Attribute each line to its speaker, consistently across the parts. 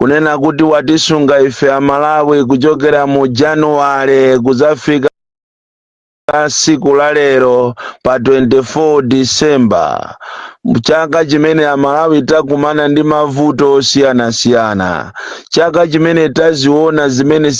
Speaker 1: kunena kuti watisunga ife amalawi kuchokera mu januwale kudzafika siku la lero pa 24 December chaka chimene amalawi takumana ndi mavuto osiyanasiyana chaka chimene taziona zimene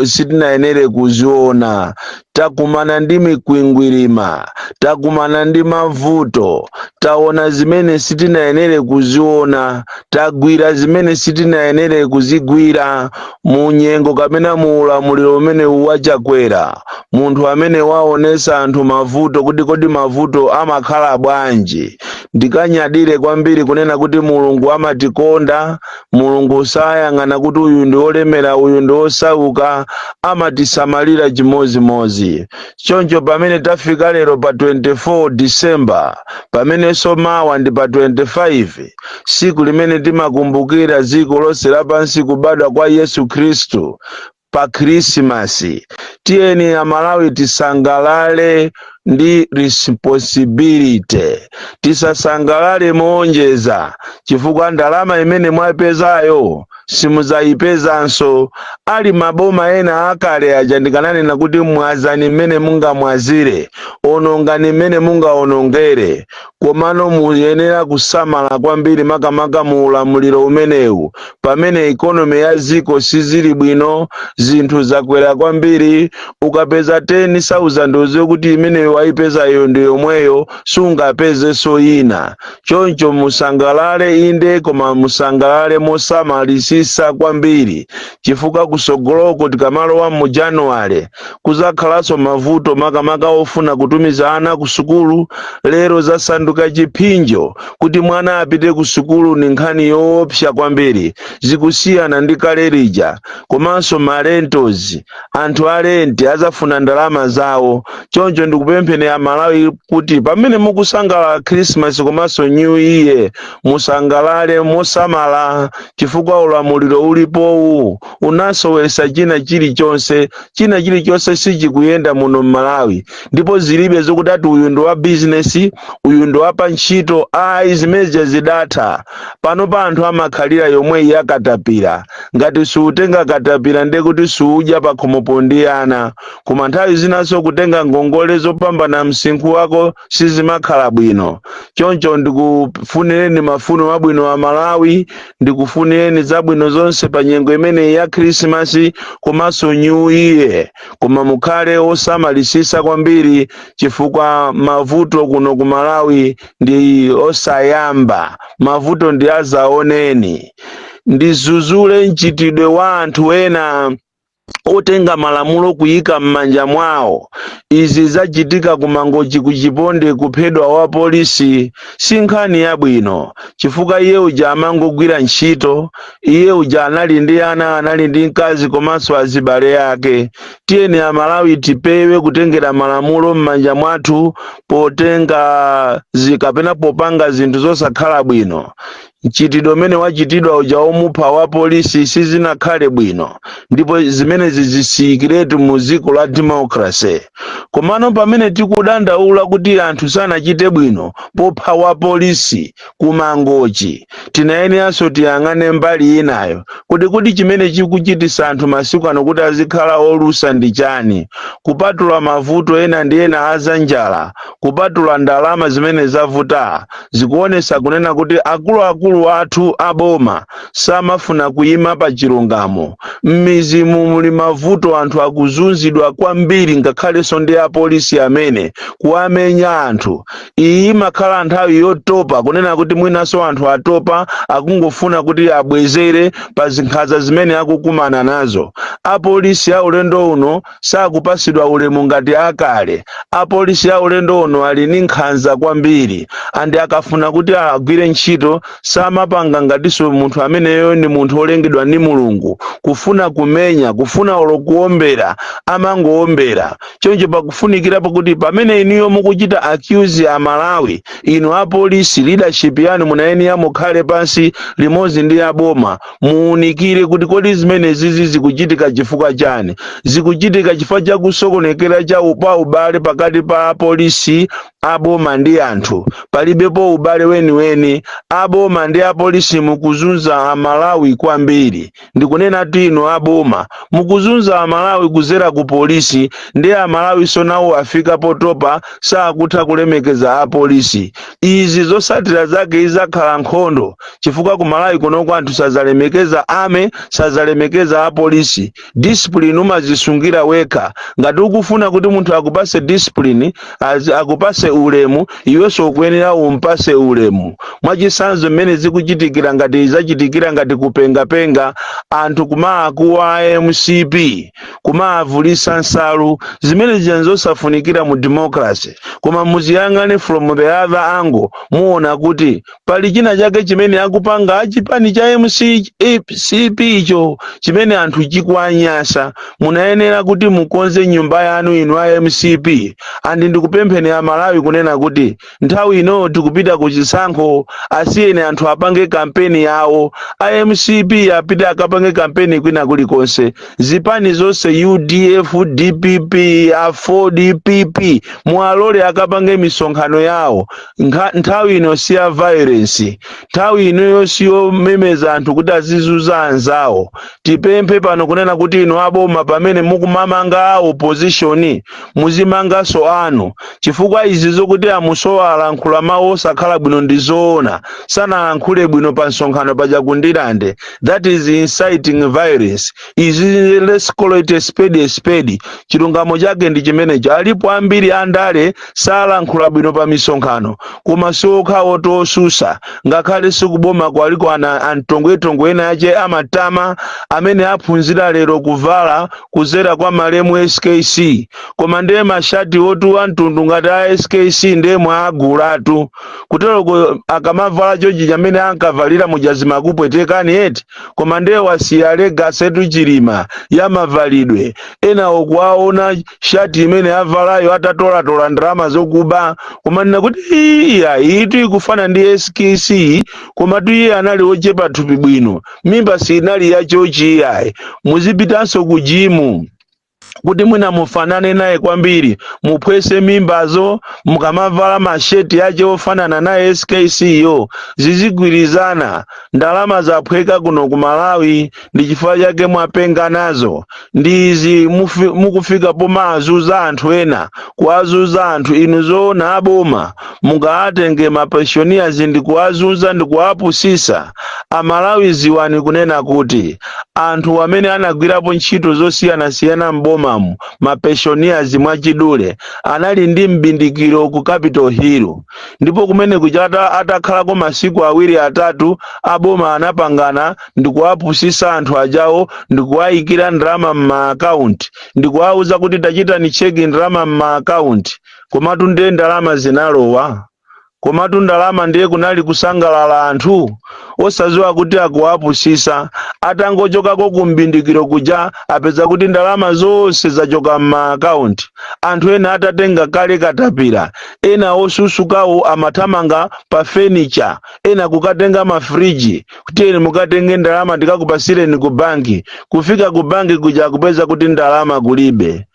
Speaker 1: sitinayenere kuziona takumana ndi mikwingwirima takumana ndi mavuto taona zimene sitinayenere kuziona tagwira zimene sitinayenere kuzigwira Mu nyengo kapena mu ulamuliro umenewu wa Chakwera, munthu amene waonesa anthu mavuto kuti kodi mavuto amakhala bwanji, ndikanyadire kwambiri kunena kuti Mulungu amatikonda, Mulungu sayang'ana kuti uyu ndi olemera uyu ndi osauka, amatisamalira chimodzimodzi. Choncho pamene tafika lero pa 24 December, pamenenso mawa ndi pa 25, tsiku limene timakumbukira dziko lonse lapansi kubadwa kwa yesu khristu pa khrisimasi tiyeni amalawi tisangalale ndi responsibility tisasangalale moonjeza chifukwa ndalama imene mwaipezayo simudzayipezanso ali maboma ena akale aja ndikananena kuti mwazani mmene mungamwazire onongani mmene mungaonongere Komano muyenera kusamala kwambiri makamaka mu ulamuliro umenewu pamene economy ya dziko sizili bwino, zinthu zakwera kwambiri, ukapeza 10,000 udziwe kuti imeneyo waipezayo ndi yomweyo sungapezenso ina. Choncho musangalale inde koma musangalale mosamalitsitsa kwambiri chifukwa kutsogoloko tikamalowa mu January, kuzakhalanso mavuto makamaka ofuna kutumiza ana ku sukulu lero zasanduka chiphinjo kuti mwana apite ku sukulu ndi nkhani yoopsa kwambiri zikusiyana ndi kale lija komanso marentos anthu a renti azafuna ndalama zawo choncho ndikupempheni amalawi kuti pamene mukusangalala khrisimasi komanso new year musangalale mosamala chifukwa ulamuliro ulipowu unasowesa china chilichonse china chilichonse sichikuyenda muno mmalawi ndipo zilibe zokuti ati uyu ndi wa bizinesi uyu ndi wapa ntchito ayi zimenezo zidatha pano pa anthu amakhalira yomweyi ya katapira ngati suutenga katapira ndiye kuti suudya pakhomopo ndi ana koma nthawi zinanso kutenga ngongole zopambana msinkhu wako sizimakhala bwino choncho ndikufunireni mafuno abwino amalawi ndikufunireni zabwino zonse pa nyengo imeneyi ya khrisimasi komanso new year koma mukhale osamalisisa kwambiri chifukwa mavuto kuno ku malawi ndi osayamba mavuto ndi azaoneni ndizuzule mchitidwe wa anthu ena otenga malamulo kuyika mmanja mwawo izi zachitika ku mangochi ku chiponde kuphedwa wa polisi si nkhani yabwino chifukwa iye uja amangogwira ntchito iye uja anali ndi ana anali ndi mkazi komanso azibale ake tiyeni amalawi tipewe kutengera malamulo mmanja mwathu potenga kapena popanga zinthu zosakhala bwino mchitidwe umene wachitidwa uja womupha wa polisi sizinakhale bwino ndipo zimenezi zisiyikeretu mu dziko la democracy komano pamene tikudandaula kuti anthu sanachite bwino popha wa polisi kumangochi tinayeneranso tiyang'ane mbali inayo kuti kodi chimene chikuchitisa anthu masiku ano kuti azikhala olusa ndi chani kupatula mavuto ena ndi ena azanjala kupatula ndalama zimene zavuta zikuonesa kunena kuti akuluakulu athu aboma samafuna kuyima pa chilungamo m'mizi mu muli mavuto anthu akuzunzidwa kwambiri ngakhalenso ndi apolisi amene kuwamenya anthu iyi imakhala nthawi yotopa kunena kuti mwinanso anthu atopa akungofuna kuti abwezere pa zinkhanza zimene akukumana nazo apolisi a ulendo uno sakupasidwa ulemu ngati akale. Apolisi a ulendo uno ali ndi nkhanza kwambiri and akafuna kuti agwire ntchito samapanga ngatiso munthu ameneyo ndi munthu olengedwa ndi Mulungu. Kufuna kumenya, kufuna olo kuombera amangoombera. Choncho pakufunikira pakuti pamene inuyo mukuchita accuse Amalawi, inu apolisi leadership yanu munayenera mukhale pansi limodzi ndi aboma muunikire kuti kodi zimenezizi zikuchitika chifukwa chani zikuchitika chifukwa cha kusokonekera cha upa ubale pakati pa apolisi aboma ndi anthu palibepo ubale weniweni aboma ndi apolisi mukuzunza amalawi kwambiri ndikunenatu inu aboma mukuzunza amalawi kuzera ku polisi ndi amalawi so nawo afika potopa sakutha kulemekeza apolisi izi zosatira zake izakhala nkhondo chifukwa ku malawi kunoko anthu sazalemekeza army sazalemekeza apolisi discipline umazisungira wekha ngati ukufuna kuti munthu akupase discipline az- akupase ulemu iwenso ukuyenera umpase ulemu mwachisanzo mmene zikuchitikira ngati zachitikira ngati kupengapenga anthu kumaakuwa mcp kumaavulisa nsalu zimene zija zosafunikira mu democracy koma muziyang'ana from the other angle muona kuti pali china chake chimene akupanga chipani cha mcp icho chimene anthu chikuwanyasa munayenera kuti mukonze nyumba yanu inu a mcp andi ndikupempheni a malawi kunena kuti nthawi ino tikupita ku chisankho asiyeni anthu apange kampeni yawo a mcp apite akapange kampeni kwina kulikonse zipani zonse udf dpp aford pp muwalole akapange misonkhano yawo nthawi ino si ya violence nthawi inoyo si yomemeza anthu kuti azizuza anzawo tipemphe pano kunena kuti inu aboma pamene mukumamanga opposition muzimanganso anu chifukwa izi zokuti a Msowa alankhula mawu osakhala bwino ndi zoona sanalankhule bwino pa msonkhano paja kundilande that is inciting violence izi let's call it a spade a spade chilungamo chake ndi chimenecho alipo ambiri andale salankhula bwino pa misonkhano koma siokhawo tosusa ngakhale ku boma ku aliko ana antongwetongwe ena ache amatama amene aphunzira lero kuvala kuzera kwa malemu skc koma ndiye mashati otuwa mtundu ngati a skc ndiye mwaagulatu kuteroko akamavala chonchi mmene ankavalira muja zimakupwetekani eti koma nde wasiya legacy tu chilima ya mavalidwe enawo kuwaona shati imene avalayo atatolatola ndalama zokuba kumanena kuti iyayi iyitu ikufana ndi skc komatu iye anali ochepa thupi bwino mimba siinali ya chonchi iyayi muzipitanso ku jimu kuti mwina mufanane naye kwambiri muphwese mimbazo mukamavala mashati ache ofanana naye skc yo zizigwirizana ndalama zaphweka kuno ku malawi ndi chifukwa chake mwapenga nazo ndi izi mufi- mukufika pomaazunza anthu ena kuwazunza anthu inu zoona aboma mungaatenge mapeshoniyazi ndi kuwazunza ndi kuwapusisa amalawi dziwani kunena kuti anthu amene anagwirapo ntchito zosiyanasiyana m'bomamu mapeshoniyazi mwachidule anali ndi mbindikiro ku capital hill ndipo kumeneku chata atakhalako masiku awiri atatu aboma anapangana ndi kuwapusisa anthu ajawa ndi kuwayikira ndalama m'maakaunti ndikuwauza kuti tachitani cheki ndalama m'maakaunti komatu ndiye ndalama zinalowa komatu ndalama ndiye kunali kusangalala anthu osaziwa kuti akuwapusisa atangochokako kumbindikiro kuja apeza kuti ndalama zonse zachoka m'maakaunti anthu ena atatenga kale katapira ena osusukawo amathamanga pa fenicha ena kukatenga mafriji kuti tiyeni mukatenge ndalama ndikakupasireni ku banki kufika ku banki kuja akupeza kuti ndalama kulibe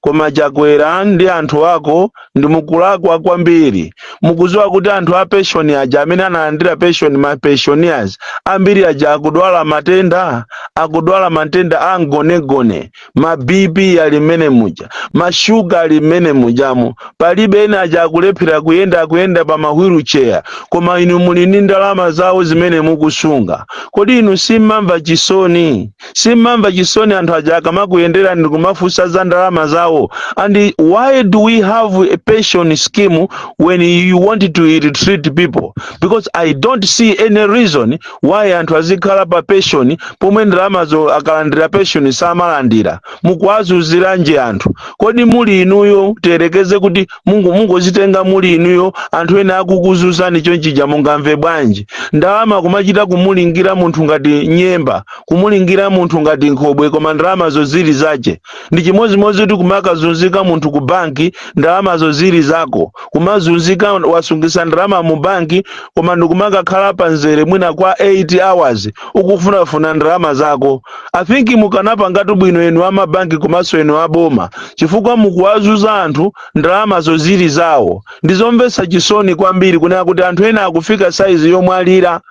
Speaker 1: koma chakwera ndi anthu ako ndi mukulakwa kwambiri mukuziwa kuti anthu a pension aja amene analandira pension ma pensioners ambiri aja akudwala matenda akudwala matenda a mgonegone ma bp ali mmene muja ma shuga ali mmene mujamo palibe ena aja akulephera kuyenda akuyenda pa mahwilu cheya koma inu muli ndi ndalama zawo zimene mukusunga kodi inu simmamva chisoni simmamva chisoni anthu aja akamakuyenderani ndi kumafunsa za ndalama zawo and why do we have a pension scheme when you want to treat people because i don't see any reason why anthu azikhala pa pension pomwe ndalamazo akalandira pension samalandira mukuwazuziranji anthu kodi muli inuyo tiyerekeze kuti mungozitenga muli inuyo anthu ena akukuzuzani chonchija mungamve bwanji ndalama kumachita kumulingira munthu ngati nyemba kumulingira munthu ngati nkhobwe koma ndalamazo zili zache ndi chimodzimodzi kuti kumakazunzika munthu ku banki ndalamazo zili zako kumazunzika wasungisa ndalama mu banki koma ndikumakakhala pa nzere mwina kwa 8 hours ukufunafuna ndalama zako i think mukanapangatu bwino enu amabanki komanso enu aboma chifukwa mukuwazuza anthu ndalamazo zili zawo ndizomvetsa chisoni kwambiri kunena kuti anthu ena akufika saizi yomwalira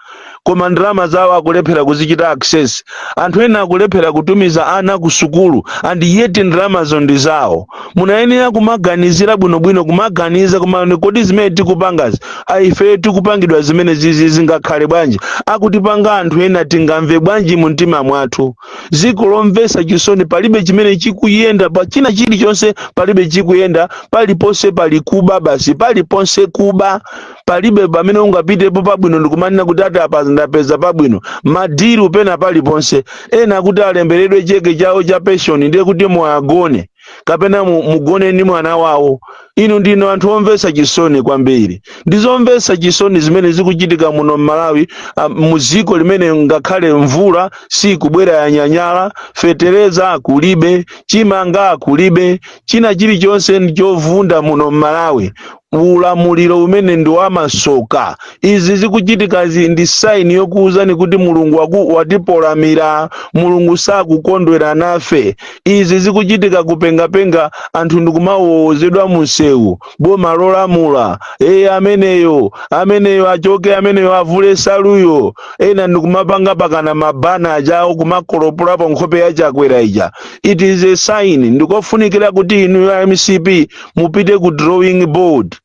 Speaker 1: koma ndalama zawo akulephera kuzichita access anthu ena akulephera kutumiza ana ku sukulu and yet ndalamazo ndi zawo munayenera kumaganizira bwinobwino kumaganiza kumanena kodi zimene tikupangazi aife tikupangidwa zimenezizi zingakhale bwanji akutipanga anthu ena tingamve bwanji mu mtima mwathu ziko lomvesa chisoni palibe chimene chikuyenda pa china chilichonse palibe chikuyenda paliponse pali kuba basi paliponse kuba palibe pamene ungapitepo pabwino ndikumanena kuti ati apa ndapeza pabwino madiru pena paliponse ena kuti alemberedwe cheke chawo cha penshoni ndiye kuti muwagone kapena mugone ndi mwana wawo inu ndinu anthu omvetsa chisoni kwambiri ndi zomvetsa chisoni zimene zikuchitika muno m'malawi mu dziko limene ngakhale mvula sikubwera yanyanyala fetereza kulibe chimanga kulibe china chilichonse ndi chovunda muno m'malawi ulamuliro umene ndi wamasoka. Izi zikuchitikazi ndi sign yokuuzani kuti Mulungu waku, watipolamira. Mulungu sakukondwera nafe. Izi zikuchitika kupengapenga anthu ndikumawowozedwa munsewu. Boma lolamula eya ameneyo ameneyo achoke ameneyo avule nsaluyo ena ndikumapanga mpakana mabana achawo kumakolopolapo nkhope ya chakwera ija. It is a sign ndikofunikira kuti inu a mcp mupite ku drawing board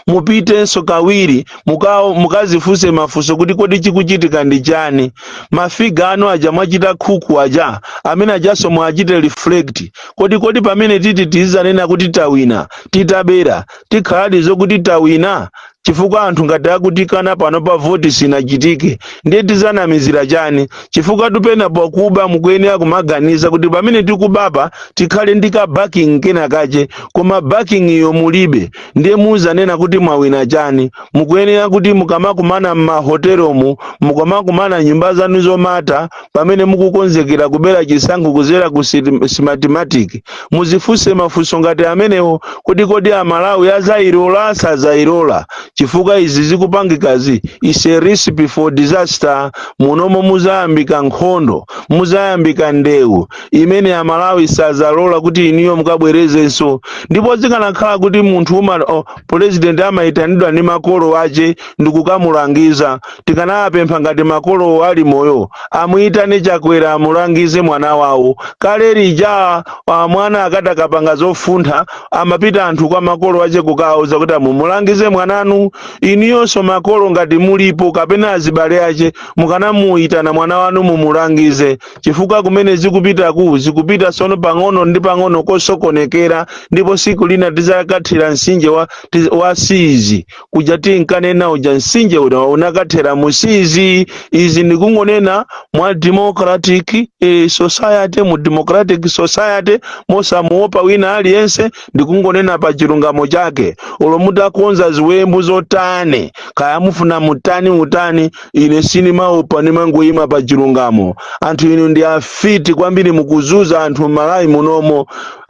Speaker 1: mupitenso kawiri muka- mukazifunse mafunso kuti kodi chikuchitika ndi chani ma figure anu aja mwachita cook aja amene ajanso muwachite reflect kodi kodi pamene titi tizanena kuti tawina titabera zikhaladi zokuti tawina chifukwa anthu ngati akutikana pano pa voti sinachitike ndiye tizanamizira chani chifukwa ukanena pakuba mukuyenera kumaganiza kuti pamene tikubapa tikhale ndi ka backing kena kache koma backing iyo mulibe ndiye muzanena kuti mwawina chani mukuyenera kuti mukamakumana m'mahotelomu mukamakumana m'nyumba zanu zomata pamene mukukonzekera kubera chisankho kuzera ku sit- smartmatic muzifunse mafunso ngati amenewo kuti kodi amalawi azayilola asazayilola chifukwa izi zikupangikazi is a recipe for disaster munomu muzayambika nkhondo muzayambika ndewu imene amalawi sazalola kuti inuyo mukabwerezenso ndipo zikanakhala kuti munthu uma o- president amayitanidwa ndi makolo ache ndikukamulangiza tikanawapempha ngati makolo ali moyo amuyitane chakwera amulangize mwana wawo kale lija ah, mwana akatakapanga zofuntha amapita anthu kwa makolo ache kukawauza kuti mumulangize mwananu inuyonso makolo ngati mulipo kapena azibale ache mukanamuyitana mwana wanu mumulangize chifukwa kumene zikupitaku zikupita tsono pang'ono ndi pang'ono kosokonekera ndipo siku lina tizakathira msinje wa, tiz- wa siizi kuja tinkanena uja msinje uja unakathera musizi izi ndikungonena mwa democratic eh, society mu democratic society mosamuopa wina aliyense ndikungonena pa chilungamo chake olo mutakonza ziwembu zotani kaya mufuna mutani mutani ine sindimaopa ndimangoyima pa chilungamo anthu inu ndi afiti kwambiri mukuzuza anthu m'malawi munomu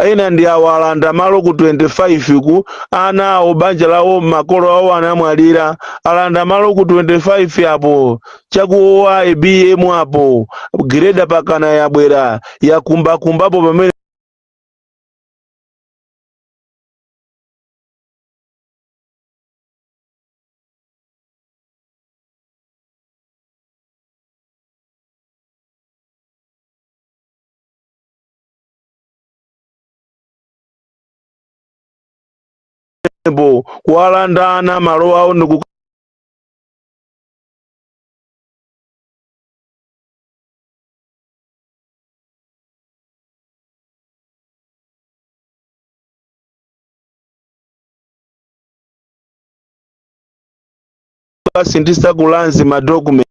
Speaker 1: ena ndi awo alanda malo ku 25 ku ana awo banja lawo makolo awo anamwalira alanda malo ku 25 apo cha ku waibiemu apo grader mpakana yabwera yakumbakumbapo pamene bo kuwalanda ana malo awo ndi kukasinthitsa kulanzi madocument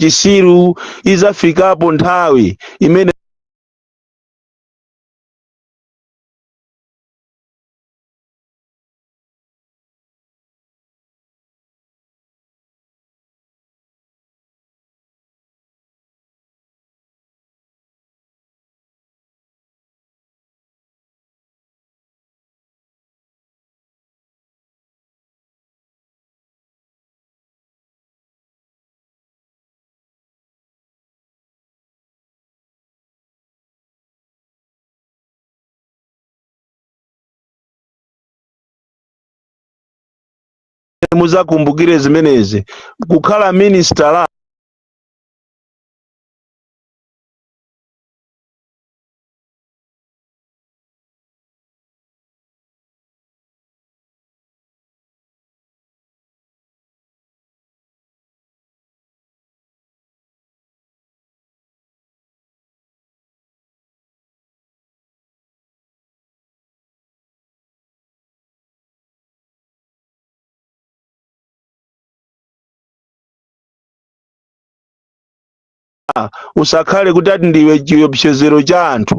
Speaker 1: chisiru izafikapo nthawi imene muzakumbukire zimenezi kukhala ministala usakhale kuti ati ndiwe chiopsezero cha anthu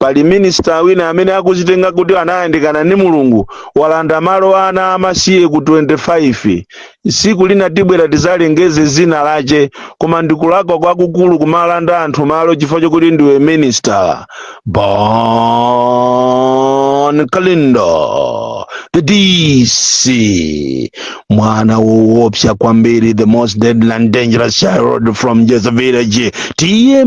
Speaker 1: pali minisitala wina amene akuzitenga kuti anayandikana ndi mulungu walanda malo a ana amasiye ku 25 tsiku lina tibwera tizalengeze dzina lache koma ndikulakwa kwakukulu kumalanda anthu malo chifukwa chokuti ndiwe minisitala bon kalindo the dc mwana woopsa kwambiri the most deadly and dangerous child from jeza village tiye